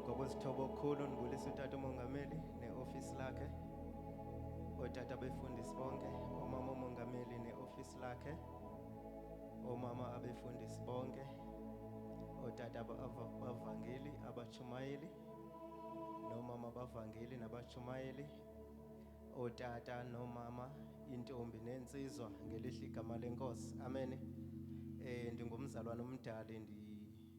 Ngokwesithobo okukhulu ngibulisa utata umongameli ne-ofisi lakhe, otata befundisi bonke, omama umongameli ne-ofisi lakhe, omama abefundisi bonke, otata bavangeli abachumayeli nomama bavangeli nabachumayeli, otata nomama intombi nensizwa ngelihle igama lenkosi. Amen. Eh ndingumzalwane omdali ndi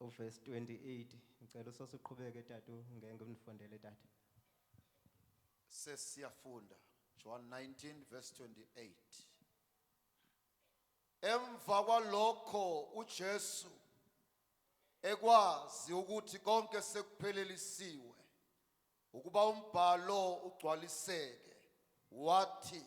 U verse 28 ngicela uSoso uqhubeke tatu ngeke unifundele tata. Sesiyafunda John 19 verse 28. Emva kwalokho uJesu ekwazi ukuthi konke sekuphelelisiwe ukuba umbhalo ugcwaliseke wathi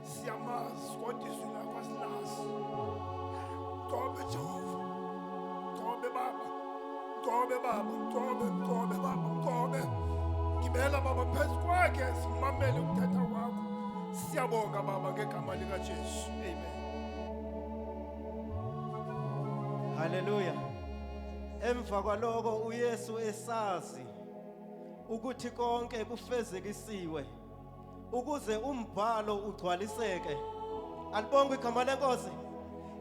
siyamazi kodwa izwi lakho asilazi mcobe jehova mcobe baba mcobe baba mcobe mcobe baba mcobe ngibela baba phezu kwakhe simamele ukuthetha kwakho siyabonga baba ngegama likajesu amen haleluya emva kwaloko uyesu esazi ukuthi konke kufezekisiwe ukuze umbhalo ugcwaliseke alibonga igama lenkosi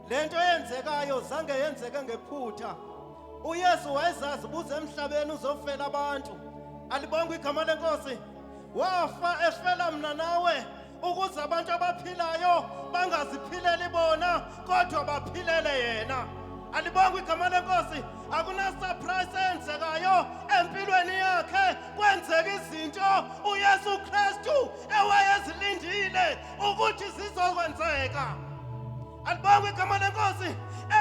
lento eyenzekayo zange yenzeke ngephutha uyesu wayezazi buze emhlabeni uzofela abantu alibonga igama lenkosi wafa efela mna nawe ukuze abantu abaphilayo bangaziphileli bona kodwa baphilele yena alibonga igama lenkosi akunasurprise eyenzekayo empilweni yakhe Kwenzeka izinto uYesu Kristu ewayezilindile ukuthi zizokwenzeka. Alibonge igama lenkosi.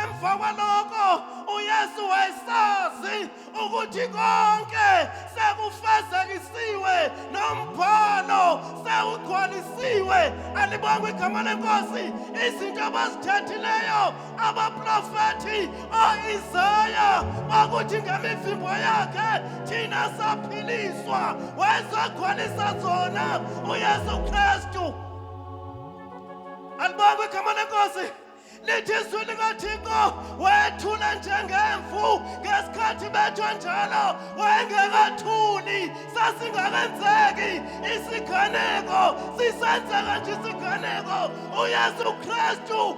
Emva kwaloko uYesu wayesazi ukuthi konke sekufezekisiwe nombhalo sewugcwalisiwe. Alibonge igama lenkosi. Izinto abazithethileyo abaprofethi o-isaya bakuthi ngemivimbo yakhe thina saphiliswa wayezogcwalisa zona uyesu kristu alibonge igama lenkosi lithi izwi likathixo wethule njengemvu ngesikhathi bethwe njalo wayengekathuli sasingakenzeki isiganeko sisenzeka nje isiganeko uyesu kristu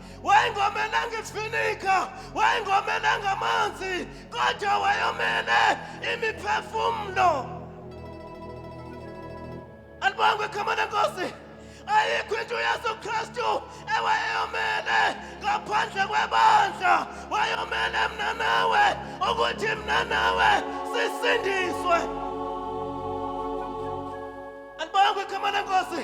wayengomelanga isifinika wayengomelanga amanzi kodwa wayomele imiphefumulo alibangwe ekhama lenkosi ayikho into uyesu kristu ewayeyomele ngaphandle kwebandla wayomele mna nawe ukuthi mna nawe sisindiswe alibangwe ekhama lenkosi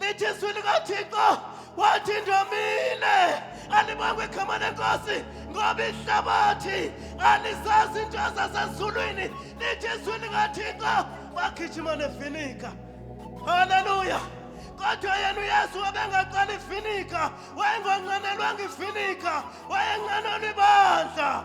lithi izwi likathixo wathi ndomile alibangwe igama lenkosi ngoba ihlabathi alizazi into zasezulwini lithi izwi likathixo bagijima nefinika haleluya kodwa yena uyesu wabengaqala ifinika wayengonqanelwanga ifinika wayenqanelwa ibandla